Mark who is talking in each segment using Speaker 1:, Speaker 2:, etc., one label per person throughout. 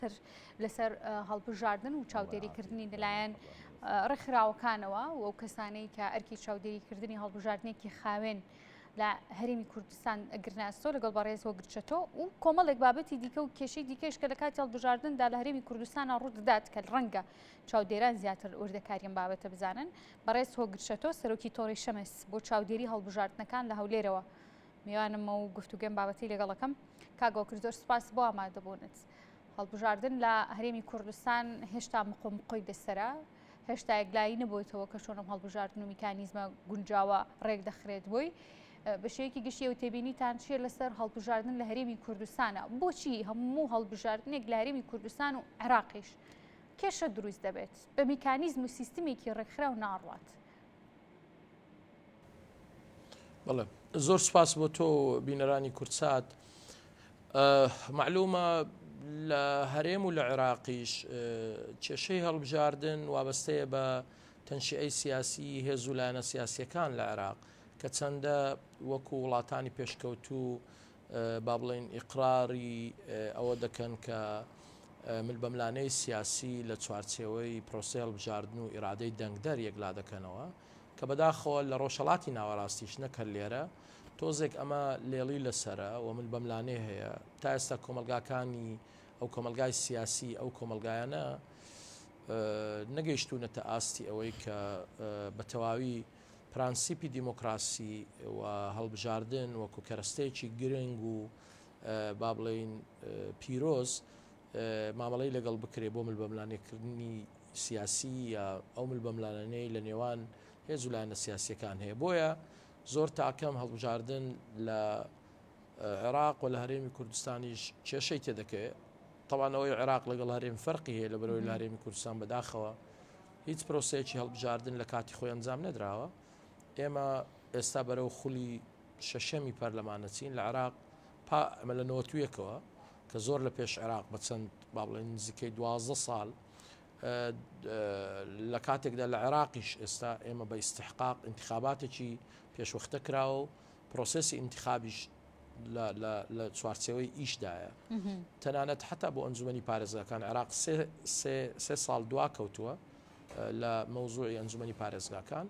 Speaker 1: تر لەسەر هەڵبژاردن و چاودێریکردنی لەلایەن ڕێکخراوەکانەوە و ئەو کەسانەی کە ئەرکی چاودێریکردنی هەڵبژاردنێکی خاوێن لە هەرمی کوردستان گرناستۆ لەگەڵ بەڕێز وەگرچەتۆ و کۆمەڵێک بابەتی دیکە و کێشی دیکەش کە لە کاتی هەڵبژاردندا لە هەرمی کوردستانە ڕوودەدات کە ڕەنگە چاودێران زیاتر وردەکاریان بابەتە بزانن بەڕێز هۆگرچەتۆ سەرۆکی تۆڕی شەمەس بۆ چاودێری هەڵبژاردنەکان لە هەولێرەوە میوانمە و گفتوگەم بابەتی لەگەڵەکەم کاگۆکردۆر سپاس بۆ ئامادەبوونت. هەڵبژاردن لە هەرێمی کوردستان هێشتا مقۆمقۆی بەسرە هێشتا یەکلایی نەبوویتەوە کە چۆنم هەڵبژاردن و میکانیزمە گونجاوە ڕێک دەخرێت بۆی بەشەیەکی گشتی و تێبینیتان چیە لەسەر هەڵبژاردن لە هەرێمی کوردستانە بۆچی هەموو هەڵبژاردنێک لە هەرێمی کوردستان و عراقیش کێشە دروست دەبێت بە میکانیزم و سیستمێکی ڕێکخرا و ناڕات
Speaker 2: بەڵێ زۆر سپاس بۆ تۆ بینەرانی کوردسات معلومە لە هەرێم و لە عێراقیش کێشەی هەڵبژاردن وابەستەیە بە تەنشیعی سیاسی هێز و لایەنە سیاسیەکان لە عێراق کە چەندە وەکو وڵاتانی پێشکەوتوو با بڵێین ئیقراری ئەوە دەکەن کە ملبەملانێی سیاسی لە چوارچێوەی پرۆسەی هەڵبژاردن و ئیرادەی دەنگدەر یەکلا دەکەنەوە، کە بەداخەوە لە ڕۆژهەڵاتی ناوەراستیش نەک هەر لێرە، تۆزێک ئەمە لێڵی لەسەرە و ملبەملانێ هەیە. تا ئێستا کۆمەڵگاکانی ئەو کۆمەڵگای سیاسی ئەو کۆمەڵگایانە نەگەیشتوونەتە ئاستی ئەوەی کە بە تەواوی، پرەنسیپی دیموکراسی و هەڵبژاردن وەکو کەرەستەیەکی گرنگ و با بڵێین پیرۆز مامەڵەی لەگەڵ بکرێ بۆ مل بەملانێکردنی سیاسی یا ئەو مل بەملانەی لە نێوان هێز و لایەنە سیاسەکان هەیە بۆیە زۆر تاکەم هەڵبژاردن لە عێراق و لە هەرێمی کوردستانیش کێشەی تێدەکەوێت تەوانەوەی عێراق لەگەڵ هەرێم فەرقی هەیە لە بەرەوەی لارێمی کوردستان بەداخەوە هیچ پرۆسەیەکی هەڵبژاردن لە کاتی خۆی ئەنجام نەدراوە، ئێمە ئێستا بەرەو خولی شەشەمی پەرلەمان ئەچین لە عێراق، پا ئەمە لە نەوەت و یەکەوە کە زۆر لە پێش عێراق بە چەند با بڵێین نزیکەی دوازدە ساڵ لە کاتێکدا لە عێراقیش ئێستا ئێمە بە ئیستحقاق ئینتخاباتێکی پێشوەختە کراوە و پرۆسسی ئینتخابیش لە چوارچێوەی ئیشدایە تەنانەت حتا بۆ ئەنجومی پارێزگاکان عراق سێ ساڵ دوا کەوتووە لە مەوزوعی ئەنجومی پارێزگاکان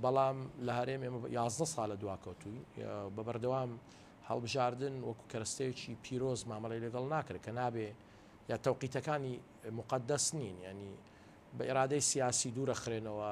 Speaker 2: بەڵام لە هەرێم ئێمە 11 ساڵە دوا کەوتووی بە بەردەوام هەڵبژاردن وەکو کەرەستەیەکی پیرۆز مامەڵی لەگەڵ ناکرێت کە نابێ یا تەوقیتەکانی مقدەس نین ینی بە ئێرادەی سیاسی دوورە خرێنەوە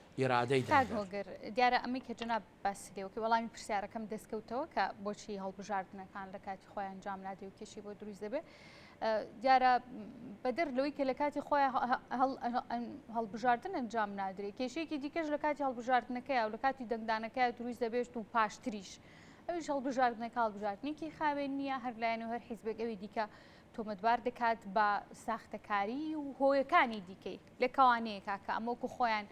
Speaker 2: ئیرادەی دادگا. کاک هۆگر،
Speaker 1: دیارە ئەمەی کە جەنابت باسی لێ وەکی وەڵامی پرسیارەکەم دەستکەوتەوە کە بۆچی هەڵبژاردنەکان لە کاتی خۆی ئەنجام نادرێ و کێشەی بۆ دروست دەبێ. دیارە بەدەر لەوەی کە لە کاتی خۆیان هەڵبژاردن ئەنجام نادرێ، کێشەیەکی دیکەش لە کاتی هەڵبژاردنەکەیە و لە کاتی دەنگدانەکەیە دروست دەبێت و پاشتریش. ئەویش هەڵبژاردنەکە هەڵبژاردنێکی خاوێن نییە، هەر لایەن و هەر حیزبێک ئەوی دیکە تۆمەتبار دەکات بە ساختەکاریی و هۆیەکانی دیکەی. لێکەوانەیە کاکە ئەمە وەکو خۆیان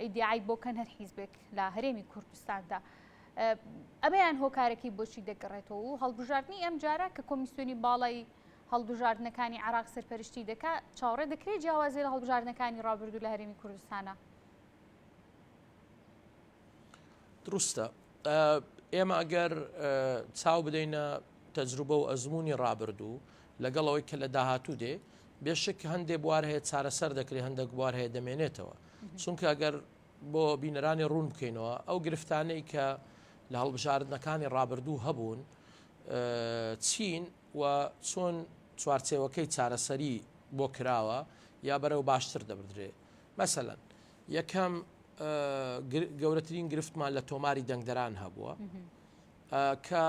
Speaker 1: ئیدعای بۆ کەن هەر حیزبێک لە هەرێمی کوردستاندا ئەمەیان هۆکارەکەی بۆچی دەگەڕێتەوە و هەڵبژاردننی ئەم جارە کە کۆمیسیۆنی باڵی هەڵبژاردنەکانی عراق سەرپەرشتی دەکات چاوەڕێ دەکرێت جیاوازی لە هەڵبژاردنەکانی ڕابردوو لە هەرێمی کوردستانە
Speaker 2: دروستە ئێمە ئەگەر چاو بدەینە تەجروبە و ئەزمموی ڕابردوو لەگەڵ ئەوەی کە لە داهاتوو دێ بێشک هەندێک بوار هەیە چارەسەر دەکرێت هەندێک بوار هەیە دەمێنێتەوە چونکە ئەگەر بۆ بینەرانی ڕوون بکەینەوە ئەو گرفتانەی کە لە هەڵبژاردنەکانی ڕابردوو هەبوون چین و چۆن چوارچێوەکەی چارەسەری بۆ کراوە یا بەرەو باشتر دەبدرێ مەسەلەن یەکەم گەورەترین گرفتمان لە تۆماری دەنگدەران هەبووە کە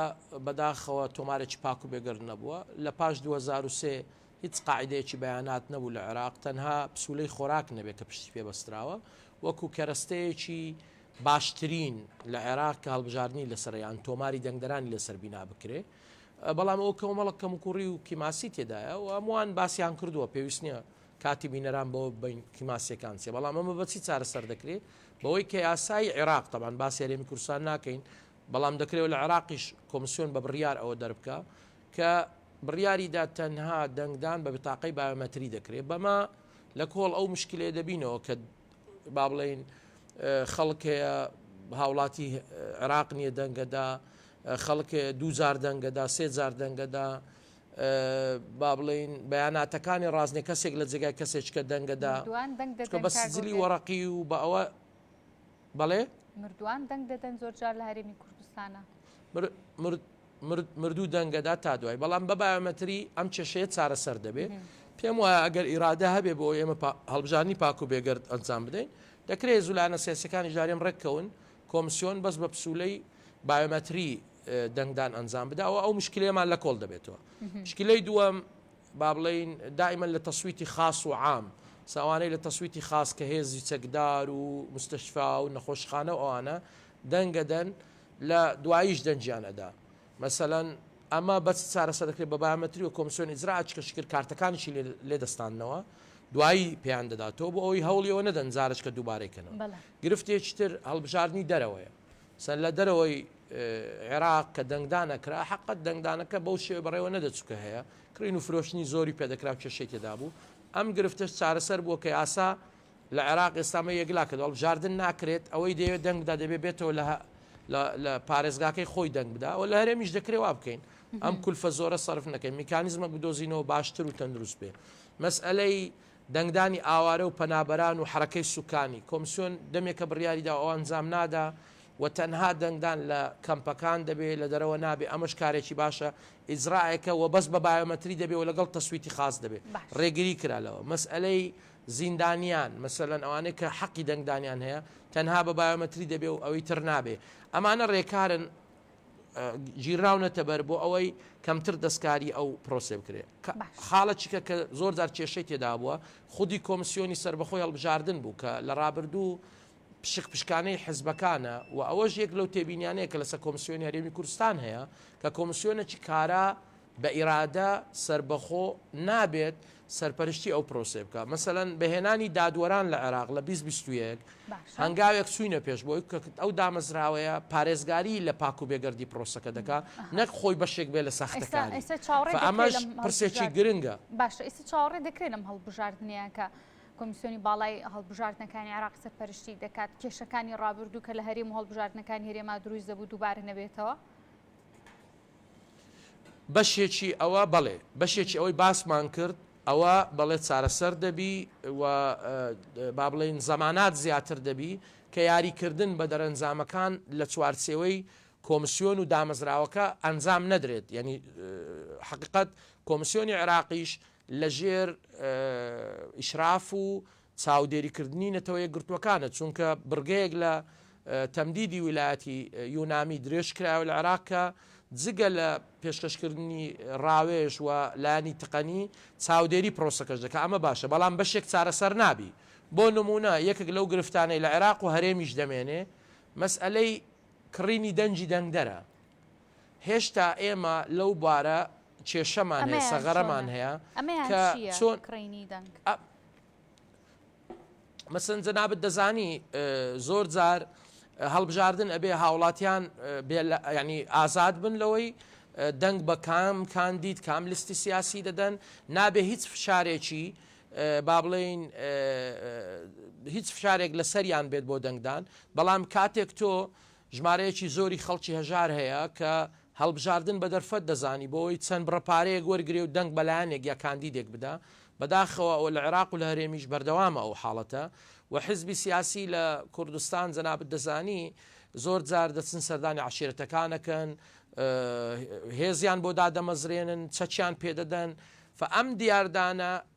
Speaker 2: بەداخەوە تۆمارێکی پاک و بێگەرد نەبووە لە پاش 2023 هیچ قاعدەیەکی بەیانات نەبوو لە عێراق تەنها پسولەی خۆراک نەبێت کە پشتی پێ بەستراوە وەکو کەرەستەیەکی باشترین لە عێراق کە هەڵبژاردننی لەسەریان تۆماری دەنگدەرانی لەسەر بینا بکرێ بەڵام ئەو کەمەڵک کەم کوڕی و کیماسی تێدایە و هەمووان باسییان کردووە پێویست نییە کاتی بینەران بەوە ببەین کە ماسییەکان چییە، بەڵام ئەمە بە چی چارەسەر دەکرێت؟ بەوەی کە یاسای عێراق، تەبعەن باسی هەرێمی کوردستان ناکەین، بەڵام دەکرێت لە عێراقیش کۆمسیۆن بە بڕیار ئەوە دەربکا کە بڕیاری دا تەنها دەنگدان بە بتاقەی بایۆمەتری دەکرێت، بەمە لە کۆڵ ئەو مشکلەیە دەبینەوە کە با بڵێین خەڵک هەیە هاوڵاتی عێراق نییە دەنگەدا، خەڵک هەیە دوو جار دەنگەدا، سێ جار دەنگەدا، با بڵێین بەیاناتەکانی ڕازنێ کەسێک لە جێگای کەسێچکە دەنگەدا مردوان دەنگ دەدەن بە سجلی وەڕقی و بە ئەوە بەڵێ مردوان
Speaker 1: دەنگ دەدەن زۆر جار لە هەرێمی کوردستانە
Speaker 2: مردوو دەنگەدا تا دوای بەڵام بە بایۆمەتری ئەم کێشەیە چارەسەر دەبێت پێم وایە ئەگەر ئیرادە هەبێ بۆ ئێمە هەڵبژانی پاک و بێگەرد ئەنجام بدەین دەکرێت زولانە سیاسەکانی ژارێن ڕێککەون کۆمسیۆن بەس بە پسولەی بایۆمەتری دەنگدان ئەنجام بدا و ئەو مشکلەیەمان لە کۆڵ دەبێتەوە مشکلەی دووەم با بڵین دائیمەن لە تەسویتی خاص و عام ساوانەی لە تەسویتی خاص کە هێزی چەکدار و مستشفا و نەخۆشخانە و ئەوانە دەنگەدەن لە دواییش دەنجیان ئەدا مەسەلەن ئەمە بەچ چارەسەر دەکرێت بە بایۆمەتری و کۆمسیۆن ئیجرا ئەچکە شکر کارتەکانیشی لێ دەستاندنەوە دوایی پێیان دەداتەوە بۆ ئەوەی هەوڵیەوە نەدەن جارشکە دووبارەی کەنەوە گرفتێکی تر هەڵبژاردنی دەرەوەیە سەر لە دەرەوەی عێراق کە دەنگدان ئەکرا، حەقە دەنگدانەکە بەو شێوەی بەڕێوە نەدەچوو کە هەیە، کڕین و فرۆشتنی زۆری پێدەکرا و کێشەی تێدا بوو، ئەم گرفتەش چارەسەر بووە کە یاسا لە عێراق ئێستا ئەمە یەکلا کردووە، هەڵبژاردن ناکرێت، ئەوەی دەیەوێت دەنگ بدا دەبێت بێتەوە لە لە پارێزگاکەی خۆی دەنگ بدا و لە هەرێمیش دەکرێت وا بکەین، ئەم کولفە زۆرە سەرف نەکەین، میکانیزمەک بدۆزینەوە باشتر و تەندروست بێت. مەسئەلەی دەنگدانی ئاوارە و پەنابەران و حەرەکەی سوکانی، کۆمسیۆن دەمێکە بڕیاری داوە ئەو ئەنجام نادا و تەنها دەنگدان لە کەمپەکان دەبێ لە دەرەوە نابێ ئەمەش کارێکی باشە ئیجرائێکە و بەس بە بایۆمەتری دەبێ و لەگەڵ تەسویتی خاس دەبێ باش. ڕێگری کرا لەوە مەسئەلەی زیندانیان مەسەلەن ئەوانەی کە حەقی دەنگدانیان هەیە تەنها بە بایۆمەتری دەبێ و ئەوی تر نابێ ئەمانە ڕێکارن گیراونەتە بەر بۆ ئەوەی کەمتر دەستکاری ئەو پرۆسێ بکرێت خاڵەچیکە کە زۆر جار کێشەی تێدابووە خودی کۆمسیۆنی سربەخۆی هەڵبژاردن بوو کە لە ڕابردوو پشک پشکانەی حزبەکانە و ئەوەش یەک لەو تێبینیانەیە کە لەسەر کۆمسیۆنی هەرێمی کوردستان هەیە کە کۆمسیۆنەی کارا بە ئیرادە سەربەخۆ نابێت سەرپەرشتی ئەو پرۆسەیە بکات، مەسەلەن بە هێنانی دادوەران لە عێراق لە بیست بیست و یەک باشە. هەنگاوێک چووینە پێش بۆی کە ئەو دامەزراوەیە پارێزگاری لە پاک و بێگەردی پرۆسەکە دەکات ئەها. نەک خۆی بەشێک بێت لە ئێستا ساختەکاری، ئێستا چاوەڕێ فە دەکرێت ئەمەش لەم پرسێکی هەڵبژارد گرنگە. باشە ئیستا چاوەڕێ
Speaker 1: دەکرێت لەم هەڵبژاردنەیە کە کۆمیسیۆنی باڵای هەڵبژاردنەکانی عێراق سەرپەرشتی دەکات کێشەکانی ڕابردوو کە لە هەرێم و هەڵبژاردنەکانی هەرێما دروست دەبوو دووبارە نەبێتەوە؟
Speaker 2: بەشێکی ئەوە بەڵێ بەشێکی ئەوەی باسمان کرد ئەوە بەڵێ چارەسەر دەبی و بابڵێین زەمانات زیاتر دەبی کە یاریکردن بە دەرەنجامەکان لە چوارچێوەی کۆمسیۆن و دامەزراوەکە ئەنجام نەدرێت یعنی حقیقەت کۆمسیۆنی عراقیش لە ژێر ئیشراف و چاودێریکردنی نەتەوەیەکگرتووەکانە، چونکە بڕگەیەک لە تەمدیدی ویلایەتی یونامی درێژکرایەوە لە عێراق کە جگە لە پێشکەشکردنی ڕاوێژ و لایەنی تەقەنی، چاودێری پرۆسەکەش دەکات، ئەمە باشە، بەڵام بەشێک چارەسەر نابی، بۆ نموونە یەکێک لەو گرفتانەی لە عێراق و هەرێمیش دەمێنێ مەسئەلەی کڕینی دەنگی دەنگدەرە، هێشتا ئێمە لەو بارە کێشەمان هەیە، سەغەرەمان هەیە کە چۆن کڕینی دەنگ. مەسن جەنابەت دەزانی زۆر جار هەڵبژاردن ئەبێ هاوڵاتیان ینی ئازاد بن لەوەی دەنگ بە کام کاندید کام لیستی سیاسی دەدەن نابێ هیچ فشارێکی با بڵین هیچ فشارێک لەسەریان بێت بۆ دەنگدان بەڵام کاتێک تۆ ژمارەیەکی زۆری خەڵکی هەژار هەیە کە هەڵبژاردن بە دەرفەت دەزانی بۆ ئەوەی چەند بڕە پارەیەک وەرگرێ و دەنگ بە لایەنێک یا کاندیدێک بدا، بەداخەوە ئەوە لە عێراق و لە هەرێمیش بەردەوامە ئەو حاڵەتە و حزبی سیاسی لە کوردستان جەنابت دەزانی زۆر جار دەچن سەردانی عەشیرەتەکان ئەکەن، هێزیان بۆ دادەمەزرێنن، چەکیان پێدەدەن، فە ئەم دیاردانە،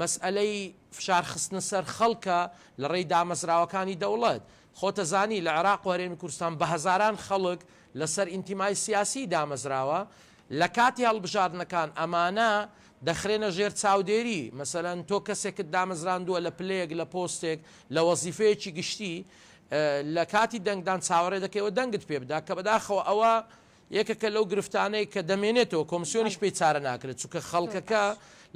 Speaker 2: مەسئەلەی فشار خستنە سەر خەڵکە لە ڕێی دامەزراوەکانی دەوڵەت. خۆتە زانی لە عێراق و هەرێمی کوردستان بە هەزاران خەڵک لە سەر ئینتیمای سیاسیی دامەزراوە. لە کاتی هەڵبژاردنەکان ئەمانە دەخرێنە ژێر چاودێری. مەسەلەن تۆ کەسێکت دامەزراندووە لە پلەیەک، لە پۆستێک، لە وەزیفەیەکی گشتی. لە کاتی دەنگدان چاوەڕێ دەکەی ئەوە دەنگت پێ بدا. کە بەداخەوە ئەوە یەکێکە لەو گرفتانەی کە دەمێنێتەوە کۆمسیۆنیش پێی چارە ناکرێت، چونکە خەڵکەکە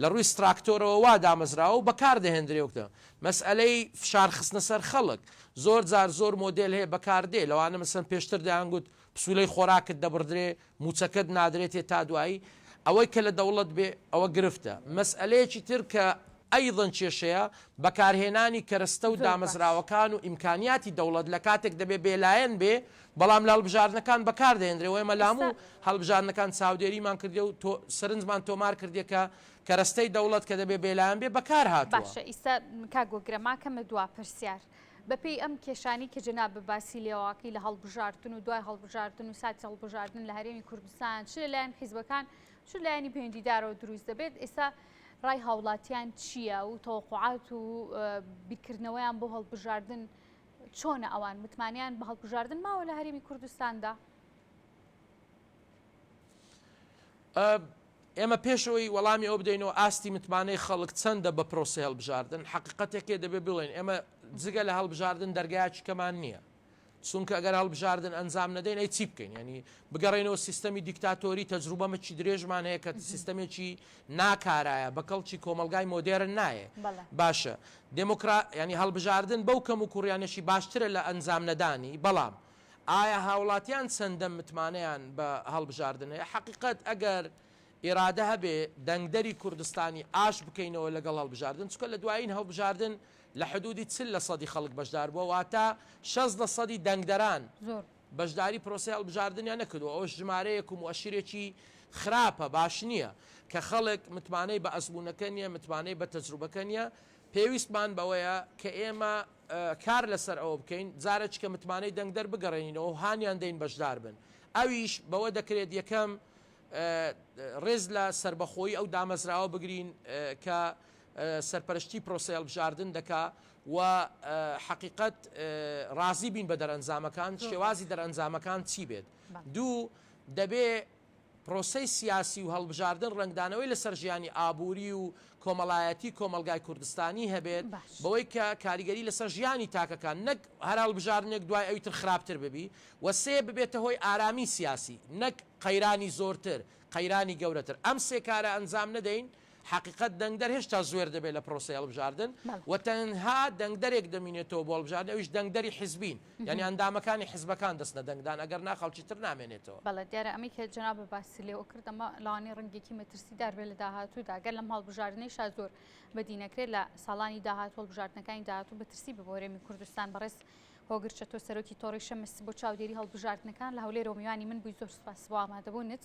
Speaker 2: لە ڕووی ستراکتۆرەوە وا دامەزراوە و بەکار دەهێندرێ وەک مەسئەلەی فشار خستنە سەر خەڵک، زۆر جار زۆر مۆدێل هەیە بەکار دێ، لەوانە مەسەن پێشتر دەیان گوت پسوولەی خۆراکت دەبڕدرێ، مووچەکەت نادرێتێ تا دوایی، ئەوەی کە لە دەوڵەت بێ ئەوە گرفتە. مەسئەلەیەکی تر کە ئەیضەن کێشەیە، بەکارهێنانی کەرەستە و دامەزراوەکان و ئیمکانیاتی دەوڵەت لە کاتێک دەبێ بێلایەن بێ بەڵام لە هەڵبژاردنەکان بەکار دەهێندرێ و ئێمە لە هەموو ئێستا هەڵبژاردنەکان چاودێریمان کردێ و تۆ سەرنجمان تۆمار کردێ کە کەرەستەی دەوڵەت کە دەبێ بێلایەن بێ بەکار هاتووە. باشە ئیستا
Speaker 1: کاک گوگرە ماکەمە دوا پرسیار بە پێی ئەم کێشانەی کە جەنابت باسی لێواکەی لە هەڵبژاردن و دوای هەڵبژاردن و ساتی هەڵبژاردن لە هەرێمی کوردستان چ لە لایەن حیزبەکان چ لایەنی پەیوەندیدارەوە دروست دەبێت ئیستا ڕای هاوڵاتیان چییە و تەوەقوعات و بیرکردنەوەیان بۆ هەڵبژاردن چۆنە ئەوان متمانیان بە هەڵبژاردن ماوە
Speaker 2: لە هەرێمی کوردستاندا؟ ئێمە پێشەوەی وەڵامی ئەوە بدەینەوە ئاستی متمانەی خەڵک چەندە بە پرۆسی هەڵبژاردن حقیقەتێکێ دەبێ بڵێن ئێمە جگە لە هەڵبژاردن دەرگایکی کەمان نییە چونکە ئەگەر هەڵبژاردن ئەنجام نەدەین ئەی چی بکەین ینی بگەڕێنەوە سیستەمی دیکتاتۆری تەجروبەمەکی درێژمان هەیە کە سیستەمێکی ناکارایە، بە کەڵکی کۆمەڵگای مۆدێرن نایێ. بەڵێ. باشە، دێمۆکرا، یانی هەڵبژاردن بەو کەموکووڕییانەشی باشترە لە ئەنجامنەدانی، بەڵام ئایا هاوڵاتیان چەندە متمانەیان بە هەڵبژاردن هەیە؟ حەقیقەت، ئەگەر ئیرادە هەبێ، دەنگدەری کوردستانی ئاش بکەینەوە لەگەڵ هەڵبژاردن، چونکە لە دوایین هەڵبژاردن لە حدوودی چل لەسەدی خەڵک بەشدار بووە، واتە شەست لەسەدی دەنگدەران. زۆر. بەشداری پرۆسەی هەڵبژاردنیان نەکردووە، ئەوەش ژمارەیەک و موئەشیرێکی خراپە، باش نییە، کە خەڵک متمانەی بە ئەزموونەکە نییە، متمانەی بە تەجروبەکە نییە، پێویستمان بەوەیە کە ئێمە کار لەسەر ئەوە بکەین جارەچکە متمانەی دەنگدەر بگەڕێنینەوە و هانیان دەین بەشدار بن، ئەویش بەوە دەکرێت یەکەم، رێز لە سەربەخۆیی ئەو دامەزراوە بگرین کە. سەرپەرشتی پرۆسەی هەڵبژاردن دەکا و حەقیقەت ڕازی بین بە دەرئەنجامەکان، شێوازی دەرئەنجامەکان چی بێت. دوو، دەبێ پرۆسەی سیاسی و هەڵبژاردن ڕەنگدانەوەی لەسەر ژیانی ئابووری و کۆمەڵایەتی کۆمەڵگای کوردستانی هەبێت، بەوەی کە کاریگەری لەسەر ژیانی تاکەکان، نەک هەر هەڵبژاردنێک دوای ئەوی تر خراپتر ببی و سێ، ببێتە هۆی ئارامی سیاسی، نەک قەیرانی زۆرتر، قەیرانی گەورەتر. ئەم سێ کارە ئەنجام نەدەین، حەقیقەت دەنگدەر هێشتا زوێر دەبێت لە پرۆسەی هەڵبژاردن بەڵێ. و تەنها دەنگدەرێک دەمینێتەوە بۆ هەڵبژاردن ئەویش دەنگدەری حیزبین یانی ئەندامەکانی حیزبەکان دەچنە دەنگدان ئەگەر نا خەڵکی تر نامێنێتەوە. بەڵێ دیارە ئەمەی کە
Speaker 1: جەنابت باسی لێوە کرد ئەمە لەوانەیە ڕەنگێکی مەترسیدار بێت لە داهاتوودا گەر لەم هەڵبژاردنەیشا زۆر بەدی نەکرێت لە ساڵانی داهاتوو هەڵبژاردنەکانی داهاتوو مەترسی بێ بۆ هەرێمی کوردستان بەڕێز هۆگر چەتۆ سەرۆکی تۆڕی شەمس بۆ چاودێری هەڵبژاردنەکان لە هەولێرەوە میوانی من بووی زۆر سوپاس بۆ ئامادەبوونت